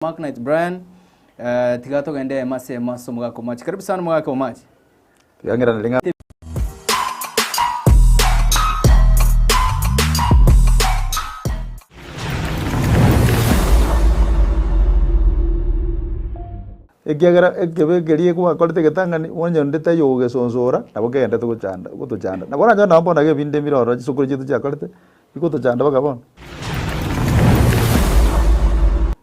Mark Knight Brian, eh, tiga togende ema ase ema ase omogaka omoachi. Karibu sana omogaka omoachi. Yang'ira nari ng'a- ekiagera ekebe ekeria gwakorete egetang'ani onye onde taiyo ogogesonsora nabo kegentete gochanda gotochanda nabo oranyore nabo bono iga ebinto ebire ororo chisokoro chiaito chiakorete Rigotochanda mpaka bono?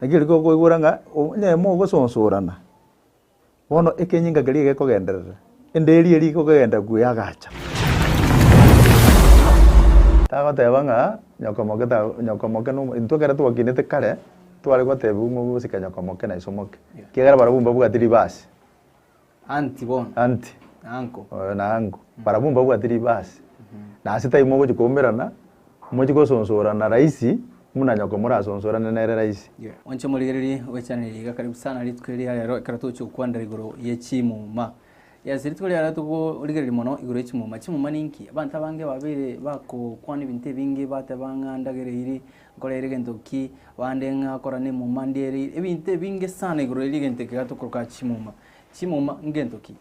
Naki riria tokoigwera ng'a onye aye mogososorana, bono ekenyinga keria gekogenderera, enderi eria ekogenderera buya agacha. Tagoteba ng'a nyokomoke ta nyokomoke na omo intwe ekero twakinete kare, tware gotebiwa ng'a obosike nyokomoke na isomoke, ekiagera barabwo mbabwati ribasi. Anti bono. Anti. Na anko. Oyo na anko. Barabwo mbabwate ribasi. Na ase tari mogochia koumerana, mochie gosonsorana rahisi, buna nyoko morasonsorane nere rahisi. Inche morigererie ogwechaneria iga karibu sana rituko eri ria rero ekero togochia gokwanera igoro ye chimuma. Yes, rituko ria rero togorigereria mono igoro ye chimuma. Chimuma ninki? Abanto abange babeire bagokwana ebinto ebinge bateba ng'a ndagera eyiri, Nkorere egento ki? Bande ng'akora nemuma ndiere ebinto ebinge sana igoro eria egento eke gatokorka chimuma. Chimuma ngento ki?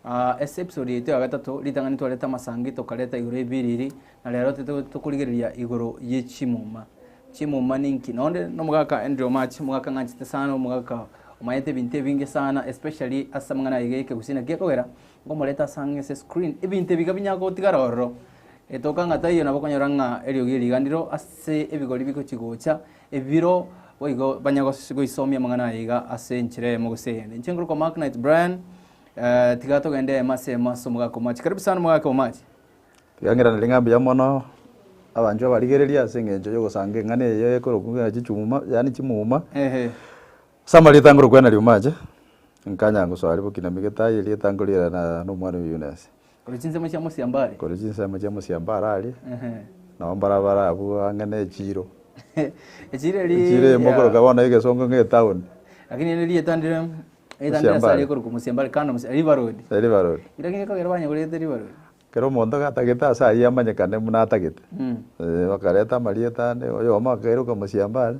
Ah, ase episode yaito ya gatato ritang'ani twareta amasangi tokareta igoro ebiriri na rero tete tokorigereria igoro ye chimuma. Chimuma ninki? Nonde nomogaka Andrew Omache, omogaka ng'anchete sana, omogaka omanyete ebinto ebinge sana especially ase amang'ana aye gekegusii. Naki ekogera nkomoreta asang'e ase screen ebinto ebiga binya gotigara ororo Etoka ng'a taiyo nabakonyora ng'a eriogi riganireo ase ebigori bigochi-gocha, ebiro boigo banya gos- goisomia amang'ana aya iga ase enchera eyemo gose eyende. Inche nkorokwa Mark Knight Brian, eh, tiga togende eyemo ase eyemo ase omogaka omoachi. Karibu sana omogaka omoachi. Riang'ina nari ng'a mbuya mono abanchwa barigererie ase eng'encho y'ogosanga eng'ana eye ekorokwa ng'a chichuma yaani chimuma Ehe. Ase amarieta nkorokwa Henry Omache, nkanya ngosoa riboki na migete aye erieta nkorierana na omwana o Eunice. Korwa chinsemo chia mosiambo are. Korwa chinsemo chia mosiambo are aria, nabo mbarabare abwo ang'e ne echiiro. Echiiro eria. Echiiro eyemo korokira bono egesongo ng'a etown. Lakini ere rieta ndire, rieta ndire ase aria korokwa mosiambo are kando mosiambo, River Road. Eh, River Road. Lakini ekogera banyegorete River Road. Kera omonto gatagete ase ayio amanyekane buna atagete. Eh, bakareta amarieta ande, oyomo akairoka mosiambo are,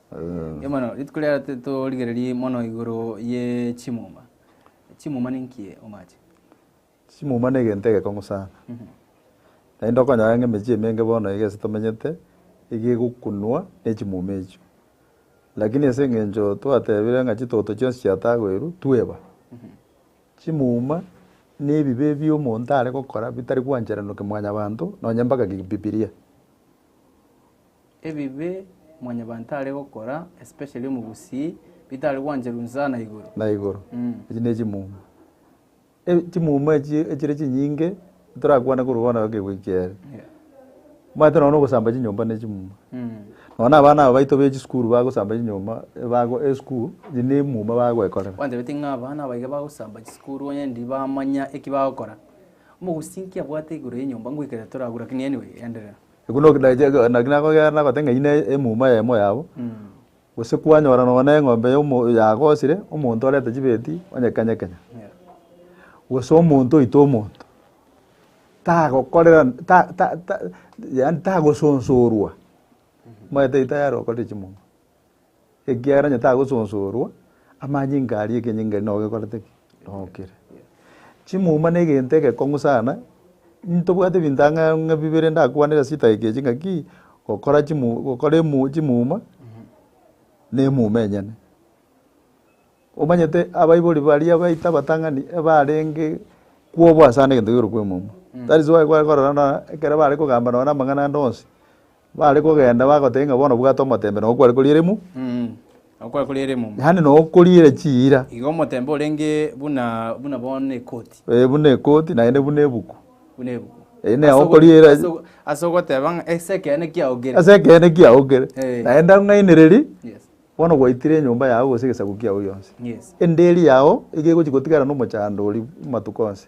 Rituko riaria titorigereria mono igoro ye chimuma. Chimuma ninki omache? Chimuma negento egekong'u sana. Naende okonyora ng'a emechie emenge bono iga ase tomenyete, iga egokunwa nechimuma echio. Lakini ase eng'encho twatebire ng'a chitoto chionsi chiatagoirwe, tweba. Chimuma na ebibe ebio omonto are gokora bitari gwancherana ki mwanyabanto, nonye mpaka ki bibiria. Ebibe mwanyabanto are gokora, especially omogusii, bitare gwancherwa inse na igoro. na igoro. Echi ne chimuma. E- chimuma echi echire chinyinge torakwane korwa bono egekegwa eki kere. Yeah. Omanyete nonya ogosamba chinyomba ne chimuma. Mm. Nonya abana aba baito be chisukuru bagosamba chinyomba ebago esukuru echi ne emuma bagwekorera. Kwanchabetie ng'a abana aba iga bagosamba chisukuru onye ndi bamanya eki bagokora. Omogusii nki abwate igoro y'enyomba ngoikerere toragure lakini anyway endelea. Ekio no- na- ge- ge- naki nakogeera nagote ng'a iyi ne emuma y'emo yabo, gose kwanyora nonye na eng'ombe y'omo yagosire, omonto orente chibeti onyekenyekenya, gose omonto oite omonto, tagokorera ta- ta- ta yaani tagosonsorwa, omanyete erio tayari okorire chimuma. ekiagera onye tagososorwa, amanyinga aria ekenyinga eria nabo gekorete ki? Nokire. Chimuma na egento egekong'u sana, ntobwate ebinto ang'e ng'a bibere ndakwane ase chinsa eke echi ng'aki, gokora chimu gokora emu chimuma na emuma enyene. Omanyete abaibori baria abaito abatang'ani ebarenge kwobwasana egento kegerokwa emuma. That is why kware korora buna ekero bare kogamba nonye na amang'ana ande onsi. Bare kogenda bagoteba ng'a bono bwate omotembe na okware koriera emu. Mm, okware koriera emumu. Yaani na okoriera chiira. Igo omotembe orenge buna buna bono ekoti. Eh, buna ekoti naende buna ebuku. Buna ebuku. Eh, ne okoriera- Ase ogo- ase ogoteba ng'a ase ekeene kiaogere. Ase ekeene kiaogere. Eh. Naende ang'ainereria, Yes. bono gwaitire enyomba yao gose egesaku kiao gionsi. Yes. Enderi yao iga egochi gotigara na omochando oria matuko onsi.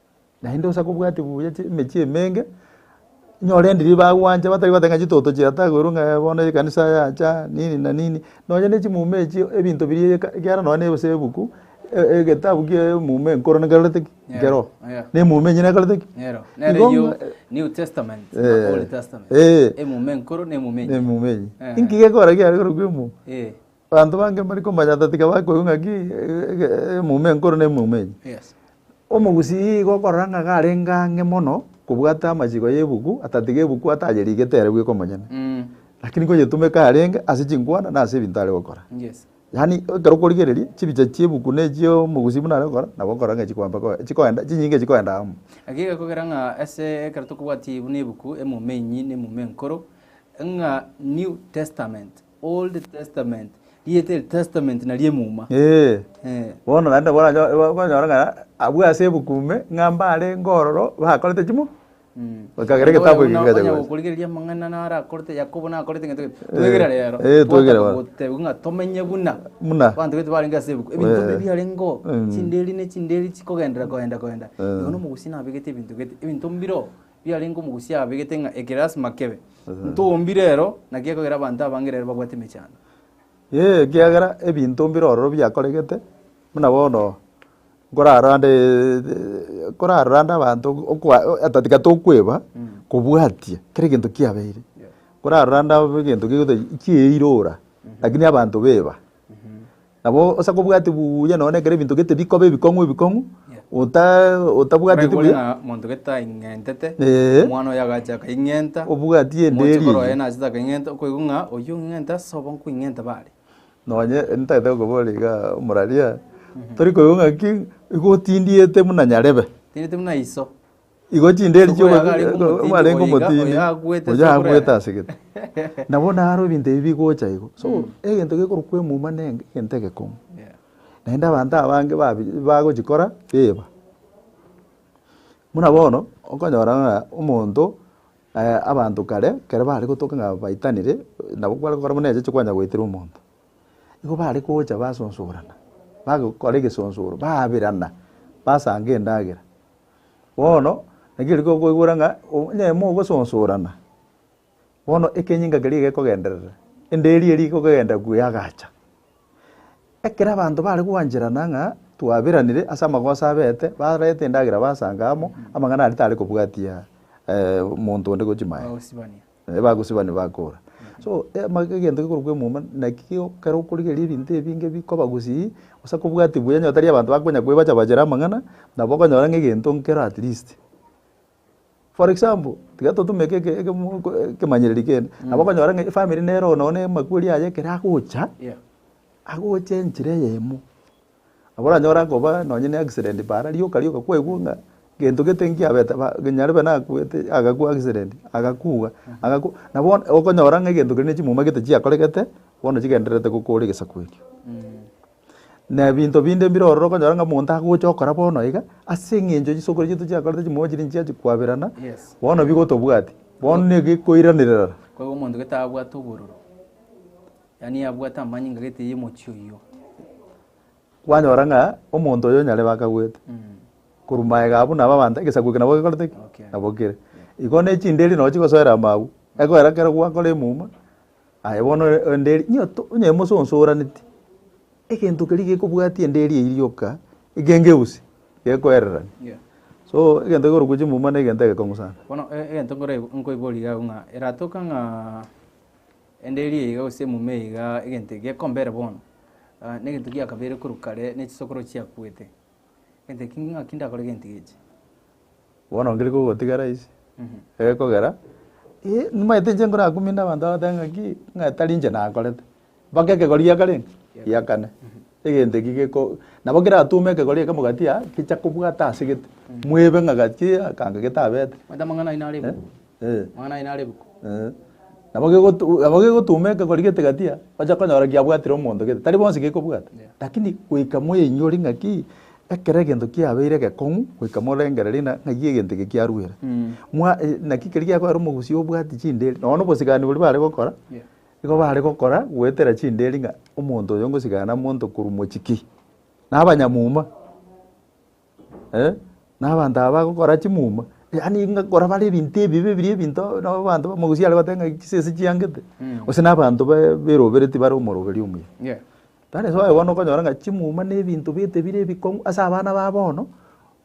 Naende onsi akobwate buya chi emechie emenge, nyore endiri bagwancha batari goteba ng'a chitoto chia tagoro ng'a bono ekanisa yacha nini na nini. Nonye ne chimuma echio ebinto biria eka ekiagera nonye na ase ebuku egetabu kie emuma enkoro nkerorete ki? Nkerogo. Yeah. Na emuma enyene ekorete ki? Nero. Nere Igo eyio ng'a- New Testament na Eh. Old Testament. Eh. Emuma enkoro na emuma enye. Emuma enyia. Eh. Inki gekogera kiaye korokwa emuma? Eh. Abanto bange mbare komanya ata tiga bakoigwa ng'aki eyomo enkoro na eyomo enye. Omogusii igo okorora ng'a garenge ang'e mono kobwate amachiko y'ebuku ata tiga ebuku atayerigete ere bweka omonyene, lakini koyetumeka yarenge ase chinkwana na ase ebinto are gokora. Yaani ekero okorigereria chibicha chi'ebuku na echi'omogusii buna are gokora nabo okorora ng'a chikoamba koa chikoenda chinyinga chikoenda amo. Naki gekogera ng'a ase ekero tokobwati buna ebuku eyomo enyi na eyomo enkoro ng'a New Testament, Old Testament, rieta eri Testament nari emuma. Ee, Eh. bono naende boracho- ba- bakonyora ng'a abwo ase ebuku ime ng'a mbare ngororo bakorete chimo Bakagera egetabu eke gikacha gocha. gokorigereria amang'ana naro akorete Yakobo nakorete gento gento. Twegere rero. eh, twegere Twataka bono. goteba ng'a tomenye buna. Buna. Abanto baito barenge ase ebuku. Ebinto Eh. bire biarenge oo. Mm. Chinderi ne chinderi chikogenderera koenda koenda. Eh. Igo na omogusii nabegete ebinto gete. Ebinto mbire oo. biarenge omogusia abegete ng'a eke lasima kebe. Ntombi rero, naki ekogera abanto abange rero babwate emechando? Ee, ekiagera ebinto mbire ororo biakoregete, buna bono nkorarande nkorarande abanto okoa ata tiga tokweba kobwatia kera egento kiabeire. Nkorarande abwo egento gegotebi kieirora, lakini abanto beba. Nabo ase kobwati buya nonya ekero ebinto gete bikoba ebikong'u ebikong'u, ota otabwateti Oraigure buya, ng'a monto gete aing'entete, Ee. omwana oyo agacha akaing'enta, obwati omochie enderi korwa oye eyio. nachete akaing'enta, okoigwa ng'a oyio ong'ing'ente ase obo nkoing'enta ba are. Nonye ntagete gokobora iga omoraria, tori koigwa ng'aki, igo otindiete buna nyarebe. Otindiete buna iso. Igo chinderi Obo yagarenge omotindi chi'omobarenge boiga, omotindi oyo agoetete oyo agoete oboremu. ase gete. Na bono aro ebinto ebi bigocha igo. So egento gekorokwa emuma nenge egento egekong'u. Yeah. Naende abanto abange babi bagochikora biba. Buna bono okonyora ng'a omonto eh, abanto kare ekero bare gotoka ng'a baitanire nabo kware gokora buna echeche kwanya goitera omonto. Igo bare gocha basosorana, bagokora egesonsoro, baberana, basanga endagera, Bono naki riria okoigwera ng'a onye mogosonsorana, bono ekenyinga keria gekogenderera, enderi eria igokogenda gu yagacha. Ekero abanto bare gwancherana ng'a twaberanire ase amagoso abete, barete endagera basanga amo, amang'ana aria tare kobwatia monto onde gochia maega. Ebagosiba nibakoora. So, ama egento gekorokwa emuma, naki kego ekero okorigereria ebinto ebinge bikoba gosii, gose kobwati buya onye tari abanto bakonya koebacha bachere amang'ana, nabo okonyora ng'a egento nkero at least. For example, tiga totumeke eke ekemo ko ekemanyereri kende, nabo okonyora ng'a efamiri nere oo nonye na amakweri aye ekero agocha, agocha enchera eyemo, Abwo oranyore akoba nonye ne accident paara rioka rioka kwaigwa ng'a gento gete nkiabete ba nyarebe nakuete agakwa accident agakugwa agakwa na bono okonyora ng'a egento kende ne chimuma gete chiakoregete bono chigendererete gokora egesaku ekio. Na ebinto binde mbire ororo okonyora ng'a omonto agocha okora bono iga ase eng'encho chisokoro chiaito chiakorete chimuma chiria nchiachi kwaberana bono bigotobwati bono negekoiranerera. Yaani abwate amanyinga gete y'omochie oyio. Kwanyora ng'a omonto oyo nyarebe akaguete, korwa maega abwo nabo abanto, egesaku eke nabo gekorete ki? Gokire. Nabokire. Igo ne chinderi nabo chigosoera amagwe, egoera kero gwakora emuma, aye bono e- enderi nyo to onye mososoraneti, egento keria gekobwatia enderi eyio rioka, ekengeusi, gekoererani. Yeah. So, egento ekorokwa chimuma na egento egekong'u sana. Bono e- egento nkore nkoiboria iga abwo ng'a eratoka ng'a. Ende erio iga gose mume iga egento eke gekomba ere bono, ah, negento gia kabere korwa kare ne chisokoro chiakuete. Egento eki ng'aki ndakore gento iga echi. Bono nkeri kogotigara ase egekogera, eh, nimaete inche nkorakuminde abanto bagoteeba ng'aki, ng'a tari inche nakorete, mpaka ekegori giakorenge? Giakane. Egento eki geko, nabo keratume ekegori ekemo gati aa gecha kobwata ase gete, mwebe ng'a gati aa akanga getabete. Omanyete amang'ana aino are ebuku? Eh. Amang'ana aino are ebuku? Eh. Nabo gegotu nabo gegotuma ekegori gete gati aa, ocha konyora giabwatire omonto gete, tari bonsi gekobwata. Yeah. Lakini goika moinyore ng'aki, ekero egento kiabeire gekong'u, goika morengererie ng'a ng'ai egento eke kiaruere. Mwa naki keri giakoera omogusii obwati chinderi, nonya na obosigani boria bare gokora, Yeah. Igo baare gokora goetera chindeeri ng'a omonto oyo ngosigana nomonto korwa mochiki, na abanyamuma, eh, na abanto aba bagokora chimuma, yaani ng'a kora bare ebinto ebibe biria ebinto nabo abanto bamagusii are goteeba ng'a chisese chiangete, gose na abanto ba- beroberetie bare omoroberi omuya. Yeah. That is why bono okonyora ng'a chimuma na ebinto bete bire ebikong'u ase abana ba bono,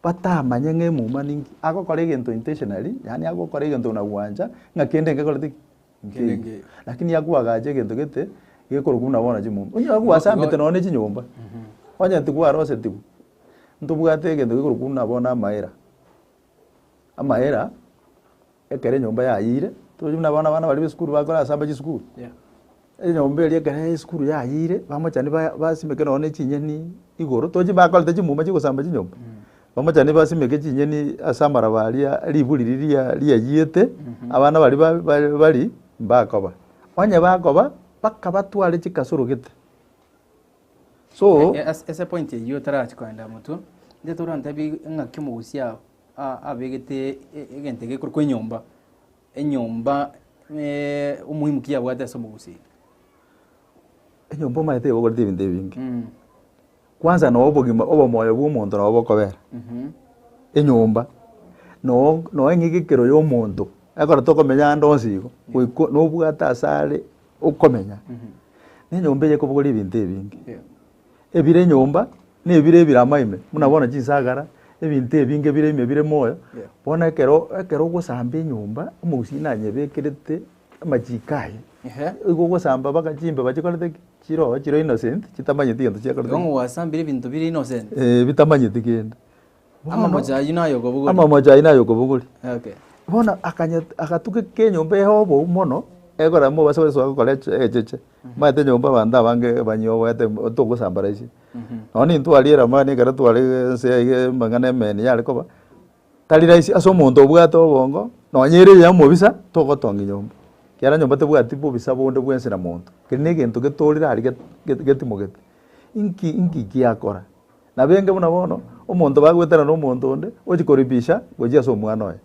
batamanye ng'a emuma ninki, agokora egento intentionally, yaani agokora egento na gwancha ng'a kende ekekoreti ki? nkeiyo. Lakini agwo agacha egento gete gekorokwa buna bono chimomba. Onye agwo asambete nonya ne chinyomba, onye ntigwa arosetigwe, ntobwate egento gekorokwa buna bono amaera. Amaera, ekero enyomba yayire, tochi buna bono abana baria b'esukuru bakorasamba chisukuru. Enyomba eria ekero esukuru yayire, bamochani ba- basimeke nonya ne chinyeni igoro, tochi bakorete chimuma chigosamba chinyomba. Bamochani basimeke chinyeni ase amaraba aria riburi riria riayiete, abana baria bari mbakoba. Onye bakoba, bakabatware chikasoro gete. So. E, e, ase, ase point eyio tarachi koenda motwe nde torantebi ng'aki omogusi abegete egento egekorokwa enyomba Enyomba omoimu ki yabwate ase omogusii? Enyomba omanyete ebokorete ebinto ebinge. Kwansa noe obogima obomoyo bw'omonto noe bokobera. Enyomba noe eng'egekero y'omonto ekero tokomenya ande onsi igo goika nobwate asare okomenya. Na enyomba eye ekobokora ebinto ebinge. Ebire enyomba, na ebire ebirama ime, buna bono chinsagara, ebinto ebinge bire ime bire moyo, bono ekero ekero ogosamba enyomba, omogusii nanyebekerete amachiko aye, igo ogosamba mpaka chimbeba chikorete ki? Chiroe chire innocent, chitamanyeti egento chiakorete ki? Igo gwasambire ebinto bire innocent. Eeh bitamanyeti kende. Ama Bono- omochie ayio naye okobogori. ama omoche ayio naye okobogori Okay. bono akanyet- agatuka eke enyomba eye obou mono egora mobase gosoa gokora eche- egecheche maete enyomba abanto abange ebanyie oboete mb- togosambaraisia nonya na intwe aria eramani ekero tware ense eye iga amang'ana emeni yare koba tari rahisi ase omonto obwate obongo nonya ere yaye omobisa togotong'ia nyomba ekiagera nyomba tebwati bobisa bonde bwa ense na monto keri na egento getorire aria get- get- getimogete inki inki giakora. Nabenge buna bono omonto bagwetana nomonto onde ochia koripisha gochia ase omwana oye.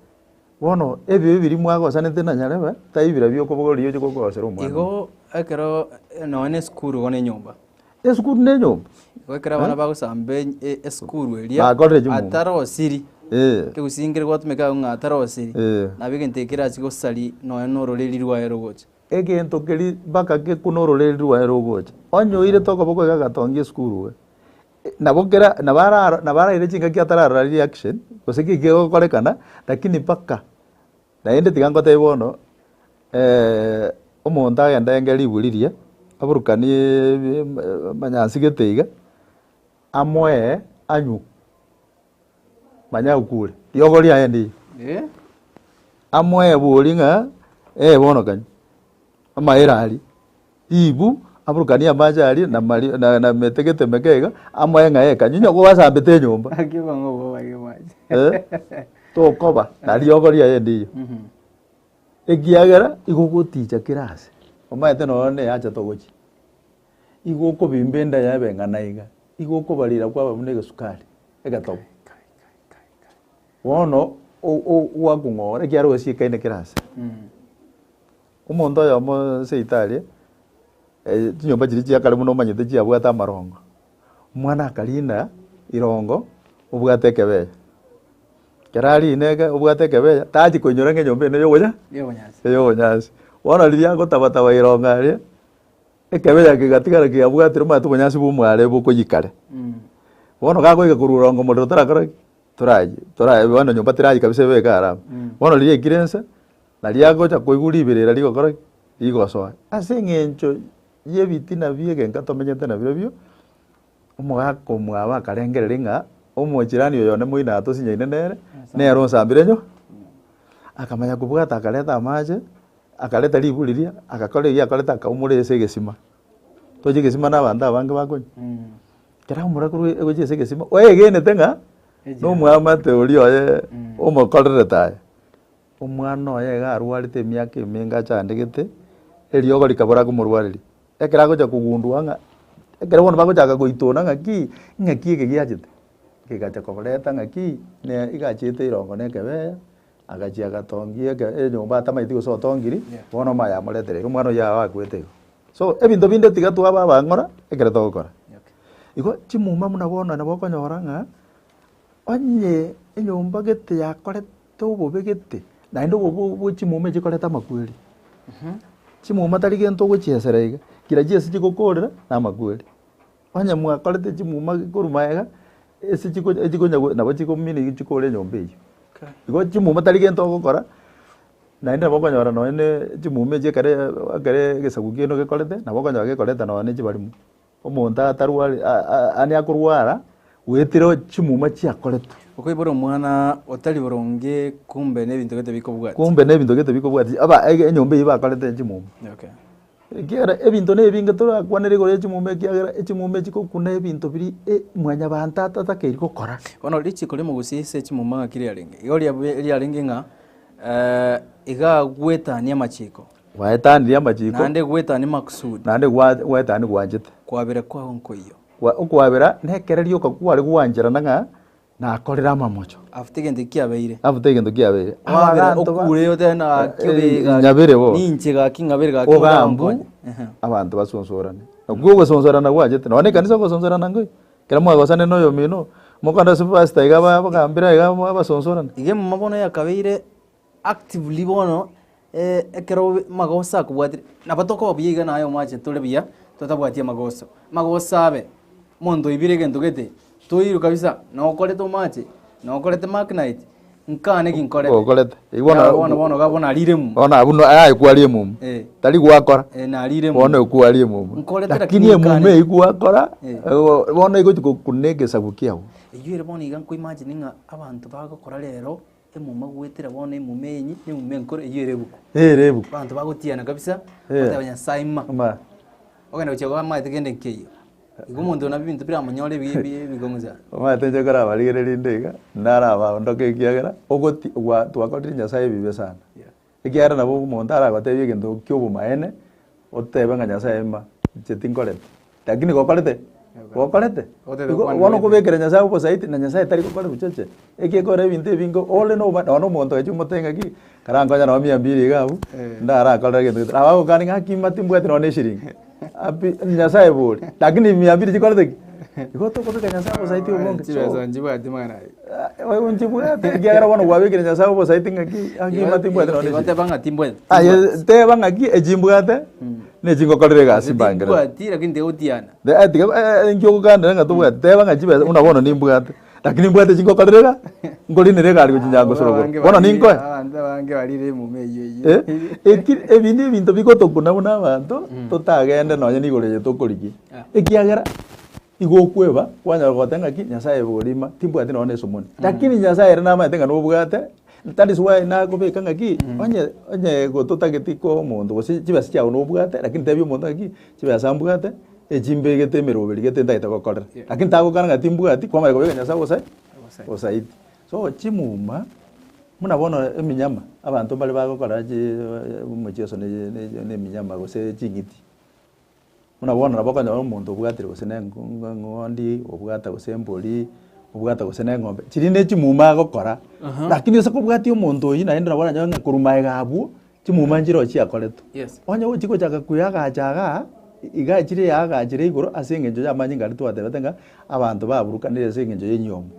Bono ebibe biria mwagosanete na nyarebe tai bira biokobogoria ochia kogoosera omwana Igo oye. ekero eh, nonya na esukuru igo na enyomba. Esukuru na enyomba. Igo ekero abana bagosamba eny- e- esukuru eria Bakorire chimuma. atarosiri, Eh. ekegusii nkere gwatomeka agwo ng'a atarosiri, Eh. nabo egento ekio kerachie gosari nonya na ororeri rwaye rogocha. Egento keria mpaka ge kuna ororeri rwaye rogocha. Onye oirete okoboko iga agatongia esukuru iga. Nabo kera nabo ara nabo araire chingaki atararora reaction gose ki kegokorekana lakini mpaka naende tiga ngotebie bono omonto agende aenge ribwe riria aburukanie ebi ebi manya asigete iga amoe anywe Manya okure. Riogo riaye ndiyo. Eh. Amoebori ng'a eh bono kanya. Amaere aria. Ribu aburukanie amache aria na mari na, na metegete meke iga amoe ng'a eh kanya. Onye gwasambete enyomba. Akio kongo bo bari mache. Eh. Tokoba na riogo riaye ndiyo. Mhm. Ekiagera igogoticha kera ase. Omanyete noyo ne achete ogochia. Igo okobimba enda yabe eng'ana iga, igo okobarira kwaba buna egesukari egetogo. Bono o- o- gwakong'ora ekiagera ogasiekaine kera ase. Omonto oyomo seito aria, eh, chinyomba chiria chia kare buna omanyete chiabwate amarongo, omwana akarina irongo obwate ekebere. Kera arina eke obwate ekebere, tachi koinyora ng'a enyomba eno eyogocha? Eyobonyansi. Eyobonyansi. Bono riria agotabataba irongo aria, Ekebe yaye kegatigara keabwatire omanyete obonyansi bw'omware bokoyia kare. Bono gakoyika korwa oronge omorero torakora ki? Torayie, torayie bono nyomba terayie kabisa ebe eke arame. Bono riria yaikire ense, naria agocha koigwa riberera rigokora ki? Rigosoa. Ase eng'encho y'ebitina bi'egenka tomenyete nabirobio. Omogaka omwabo akarengereria ng'a omochirani oyo onde moino atosinyaine nere, nere onsambire nyo. Akamanya kobwata akareta amache, akareta ribu riria, agakora eria akorete akaumora ase egesima. Tochi egesima na abanto abange bakonywa. Ekero aumora korwa egochia ase egesima, oegenete ng'a nomwamate oria oye omokorerete aye. Omwana oye iga arwarete emiaka emenge achandegete, eriogo rikabora komorwareria. Ekero agocha kogundua ng'a, ekero bono bagochaka goitona ng'aki, ng'aki eke giachete, kegacha koreta ng'aki, ne iga achiete erongo na ekebeya, agachia agatongia eke enyomba atamaeti gose otongiri, bono omaya amoreterire, omwana oyio yao akwete igo. So, ebinto binde tiga twaba abang'ora, ekero togokora. Igo chimuma buna bono nabo okonyora ng'a, onye enyomba gete yakorete Tobobegete, naende obo bwo chimuma echi chikoreta amakweri. Chimuma tari gento ogochiesera iga, ngira chi'ense chigokoorera na amakweri. Onye mwakorete chimuma korwa magega, ense chigo echigonya nabo chigomina iga chikoore enyomba eywo. Igo chimuma tari gento ogokora, naende nabo okonyora nonye ne chimuma echi ekere ekere egesaku kiano gekorete, nabo okonyora gekoreta nonye ne chibarimo. Omonto atarwari, aane akorwara, goetera chimuma chiakoretwe. Okoibora omwana otari boronge kumbe n'ebinto gete bikobwati. Kumbe n'ebinto gete bikobwati, aba e- enyomba eyio bakorete chimuma. Okay. Ekiagera ebinto nebinge torakwanere igoro ya chimuma ekiagera echimuma echi chigokuna ebinto biri e- mwanyabanto atatakeiri gokora. Bono richiko riomogusi ase echimuma ng'aki riarenge? Igo riabe- riarenge ng'a eh, iga agwetania amachiko. Gwaetanirie amachiko. Naende gwaetania makusudi. Naende gwaetania gwanchete. Kwabera kwao nkoiyo. Okwabera nekereria okakware gwancherana ng'a nakorire amamocho. Afuta egento eki kiabeire. Afuta egento kiabeire. Kwabera okure otebe gaki obee gaki. Ng'abere bono. Ninche gaki ng'abere gaki. Ogambu abanto basonsorane. Nakwo ogosonsorana gwanchete. Nonya ekanisa ogosonsorana nkoiyo. Ekero mwagosane na oyomino, mokorenda ase pastor iga abagambere iga basonsorane. Iga emama bono yakabeire actively bono ekero magoso akobwatire, nabo tokoba buya iga naye omwache tore buya totabwati amagoso. Amagoso abe, monto oibire egento gete, toirwe kabisa na okorete omache, na okorete mark night, nkaa naki nkorete. Okorete. Eyi bono- Naro bono bono iga bono arire momo. Bono abwo no- aye kwari emomu. Eh. Tari gwakora. Eh, narire momo. Bono ekwari emomu. Nkorete lakini Lakini emomu nkane. eyi gwakora, Eh. eh, bono egochi gokuna egesaku kiago. Eyio ere bono iga nkoimagine ng'a abanto bagokora rero Emuma goetera bono emuma enyi na emuma enkoro eyio ere ebuku. Ere ebuku. Abanto bagotiana kabisa, Eh. bagoteba Nyasae ng'uma. Ng'uma. Ogenda gochia koba amaete kende nkeyio. Igo omonto ona ebinto biramonyore ebi- ebi- ebikong'usa. Omanyete inche nkorabaregererie nde iga, narabaondoke ekiagera ogoti gwa twakorire Nyasae ebibe sana. Ekiagera nabo omonto aragotebie egento ki'obomaene, otebe ng'a Nyasae ima, inche tinkoreti. Lakini gokorete? Gokorete. Otebe Igo kwani bono goeteti. kobekera Nyasae obosaiti, na Nyasae tari gokora ebichoche. Ekekora ebinto ebinge ore noba nonya omonto ogacha omotebia ng'a ki, karankonye nao mia mbiri iga abwo, Eh. ndarakorere egento gete. Nabo agokania ng'a ng'aki ima timbwati nonya na eshirini. Nyasaye bori. Lakini mia mbili chikorete ki? Igo tokobeeka Nyasaye obosaiti obonge. Chibesa nchibwati mwana aye. Oyo nchibwate ekiagera bono gwabekire Nyasaye obosaiti ng'aki akima timbwate nonye Igo teba ng'a timbwati. Aye teba ng'aki echi mbwate na echi ngokorera egasi mbangere. Timbwati lakini tiga otiana. Tiga enkio ogokandera ng'a tobwati teba ng'a chibesa buna bono nimbwate. Lakini mbwate chingokorerera, nkorinera egari gochia Nyangosorogoro. Bono ninkoe? Abanto abange barire emuma eyio eyio. Eh, eki, ebi nebinto bigotokuna buna abanto totagende nonye nigoro eye tokorigia. Ekiagera igo okweba kwanyora goteba ng'aki Nyasaye borima timbwati nonye na esomoni. Lakini Nyasaye ere namanyete ng'a nobwate, that is why nakobeka ng'aki onye onye gototageti kwa omonto gose chibesa chiago nobwate lakini tebia omonto ng'aki Chibe ase ambwate, echi mbegete emeroberi gete ntagete gokorera. Lakini tagokana ng'a timbwati, kwamanya kobeka Nyasae obosa obosaiti. So chimuma, buna bono eminyama, abanto mbare bagokora chi omochieso ne ne eminyama gose ching'iti, buna bono nabo okonyora omonto obwatire gose ne engo engo eng'ondi, obwata gose embori, obwata gose ne eng'ombe, chiria ne chimuma agokora, lakini ase kobwatia omonto oyio naende nabo oranyore ng'a korwa magega abwo, chimuma nchirochio chiakoretwe. Yes. Onye gochi gochaka kweyagacha igaa, igaa chire yagachire igoro ase engencho y'amanyinga aria twatebete ng'a abanto baburukanire ase engencho y'enyomo.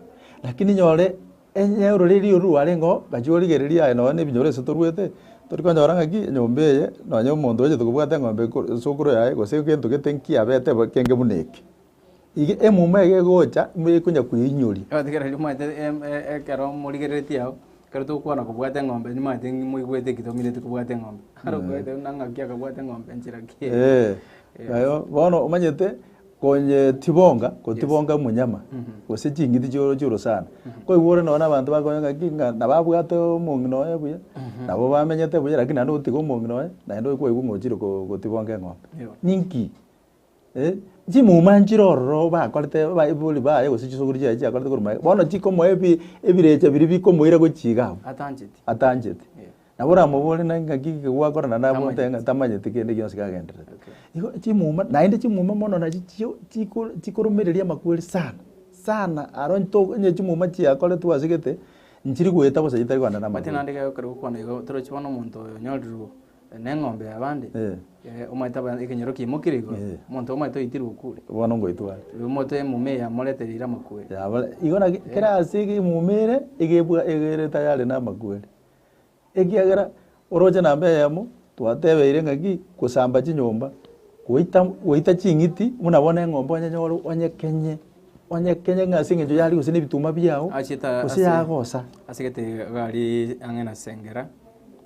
Lakini nyore enye ororeri oru rwarengeo gachia origereria aye nonye na ebinyoro ase toruete, tori konyora ng'a ki, enyomba eye nonye omonto oyochete kobwata eng'ombe ko esukuru yaye gose egento gete nkiabete bo ekenge buna eke. Iga emuma eye egocha nigo ekonya kweinyoria. Egotegerera nimanyete em- e- ekero morigereretie ao, ekero togokwana kobwate eng'ombe nimanyete ng'i moigwete ki tomineti kobwate eng'ombe. Aro okoete buna ng'aki akabwate eng'ombe nchera ki eye. Eeh, Yes. naye bono omanyete konye tibonga kotibonga omonyama gose ching'iti chioro chioro sana. Koigwa ore nonye na abanto bakonya ng'aki ng'a nabo abwate omong'ina oye buya, nabo bamenyete buya lakini naende ogotiga omong'ina oye, naende okoigwa ng'a ochire ko- kotibonga eng'ombe. Yo. Ninki? Eh, chimuma nchire ororo bakorete abaibori baye gose chisuguri chiaye chiakorete korwa magega, bono chikomoa ebi- ebirecha biria bikomoira gochia iga abwo atancheti atanchete Yeah. nabo oramobore na ng'aki ki gwakora na nabo Tamanyeti. oteba ng'a tamanyeti kende gionsi kagendererete Okay. igo chimuma naende chimuma mono nachi chio chiko- chikoromereria amakweri sana sana aro nto onye chimuma chiakoretwe ase gete nchiri goeta bosa chitari kogenda na Omanyete amakweri naende gekero okwana igo torochi bono omonto oyo onyoreirwe neng'ombe y'abande, Eh. eh, omanyete aba- ekenyoro kiaimokire igoro, Eh. omonto omanyete oitirwe okure, Bono ngoitware. rirorio omote emuma eye yamorete riire amakweri. Yabare, igo naki kera ase ege emuma ere, egebwa egere tayari namakweri. Ekiagera, oroche namba eyemo, twatebeire ng'aki, gosamba chinyomba, goita goita ching'iti, buna bono eng'ombe onyenyore onyekenye Onye kenya ng'a ase engencho y'aria gose nebituma biao, Achete ase- gose yagosa. ase egetebe iga aria ang'e na Sengera,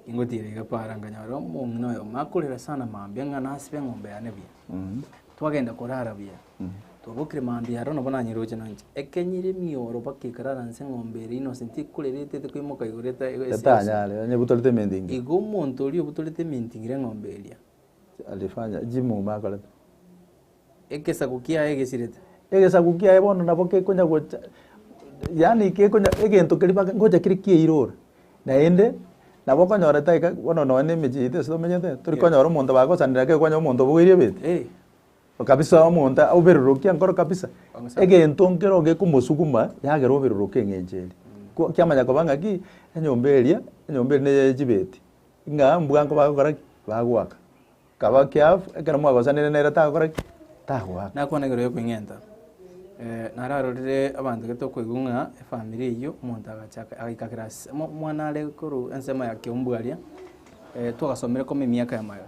ingotiira iga Para, nkanyora omong'ina oyomo akorera sana mambia ng'a nasibe eng'ombe yane buya. Twagenda korara buya, twabokire mambia aro nabo nanyeroche noinche. Ekenyire emioro mpaka ekarara nse eng'ombe eria innocent ekorera etaete koimoka igoro eta- ego- ese- ese. Etanyare, onye ebutorete ementi engiya. Igo omonto oria obutorete ementi ngire eng'ombe eria. Alifanya, jimuma akorete. Egesaku kiaye gesirete. Egesaku kiaye bono nabo gekonya gocha, yaani gekonya egento keria baka ngocha kere kiairora, naende nabo okonyora taiga bono nonye na emechie yaito ase tomenyete, tori konyora omonto bagosanera gaki okonyora omonto obogoirie ebete, Eeh. Kabisa omonto oberurukia enkoro kabisa, egento nkero gekomosuguma yagera oberuruke eng'encho eria. Ko kiamanya koba ng'aki, enyomba eria, enyomba eria neye ya chibeti, ng'a mbwango bagokora ki? Bagoaka. Kaba keafu, ekero mwagosanire nere tagokora ki? Tagoaka. Nakwanagerwa yokweng'enta. Eh, nararorire abanto gete okoigwa ng'a efamiri eyio omonto agacha aka- agaika class mo- omwana are korwa ensemo ya kiombu aria, eh, twagasomire koma emiaka yamayo,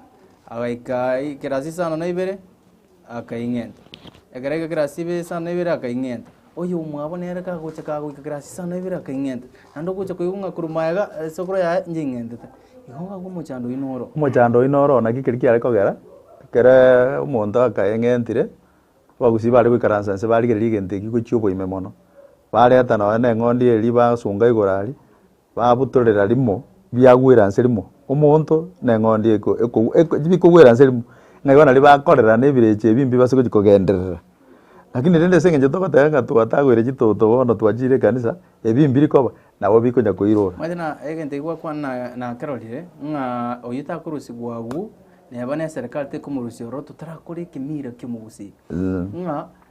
agaika i- class isano na ibere. akaing'enta. Ekero aika kirasi ibe saa na ibere akaing'enta. Oyo omwabo nere kagocha kagoika kirasi saa na ibere akaing'enta. Naende ogocha koigwa ng'a korwa maega eh, esokoro yaye inche ing'entete. Igo ng'akwa omochando oino oro. Omochando oino oro naki ekeri kiare kogera, ekere omonto akaeng'entire, abagusii bare goikaransa inse barigereria egento eki gochia oboime mono. Bareta nonya na eng'ondi eria basunga igoro aria, Babutorera rimo, biagwera nse rimo, omonto na eng'ondi eko ekogw eko bikogwera nse rimo, ng'a igo nario bakorera na ebirecha ebimbe base gochi kogenderera. Lakini rende ase eng'encho togoteba ng'a twatagwere chitoto bono twachiire ekanisa, ebi mbiri koba, nabo bikonya koirora. Manyete na egento eki gwakwana na nakerorire, ng'a oyio takorusigwa agwo, neba neserekari tekomorusia ororo totarakora ekemiira ki'omogusii, ng'a.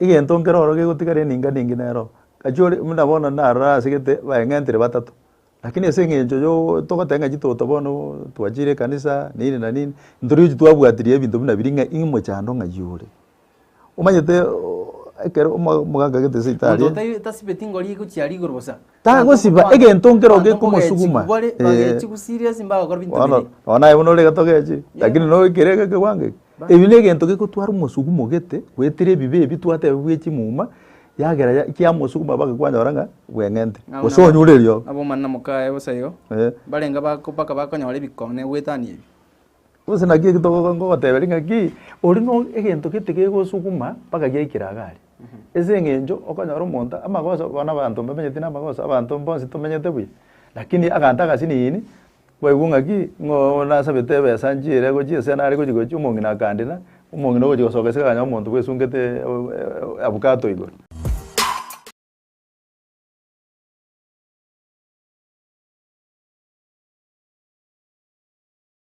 Egento nkere oro gegotigara eninga ninge nero, gachia ore buna bono narora asegete baeng'entire batato, rakini ase eng'encho yoo togoteba ng'a chitoto bono twachire ekanisa nini na nini, ntori gochi twabwatirie ebinto buna biria ng'a ii mochando ng'ai ore. Omanyete ekero omo omogaka agete esibitari. Monto otai tasibeti ngori egochiara igoro bosa. Tagosiba egento nkero gekomosuguma. Bono bono naye buna ore gatogechi, lakini no ekere eke ekewango eke. Ebi negento gekotwara omosugumo ogete, goetera ebibe ebi twateba bwe chimuma, yagera ya kiamosuguma mpaka kwanyora ng'a bweng'ente. Gose onyure riogo. Nabo omwana na mokaye bosa igo, barenge bako mpaka bakonyora ebikone goetania ebi. Gose naki eki togo ngogoteberia ng'aki, oria no egento gete gegosuguma mpaka giaikera iga aria. Ase eng'encho okonyora omonto amagoso abwo bono abanto mbamenyeti na amagoso, abanto mbonsi tomenyete buya, lakini agante agasini ini, kwaigwa ng'aki ng'a oo nasabete ebesa nchiire gochia ase nare gochia gochia omong'ina akandira, omong'ina ogochia gosoka esika akanyora omonto bwesungete avocado igoro.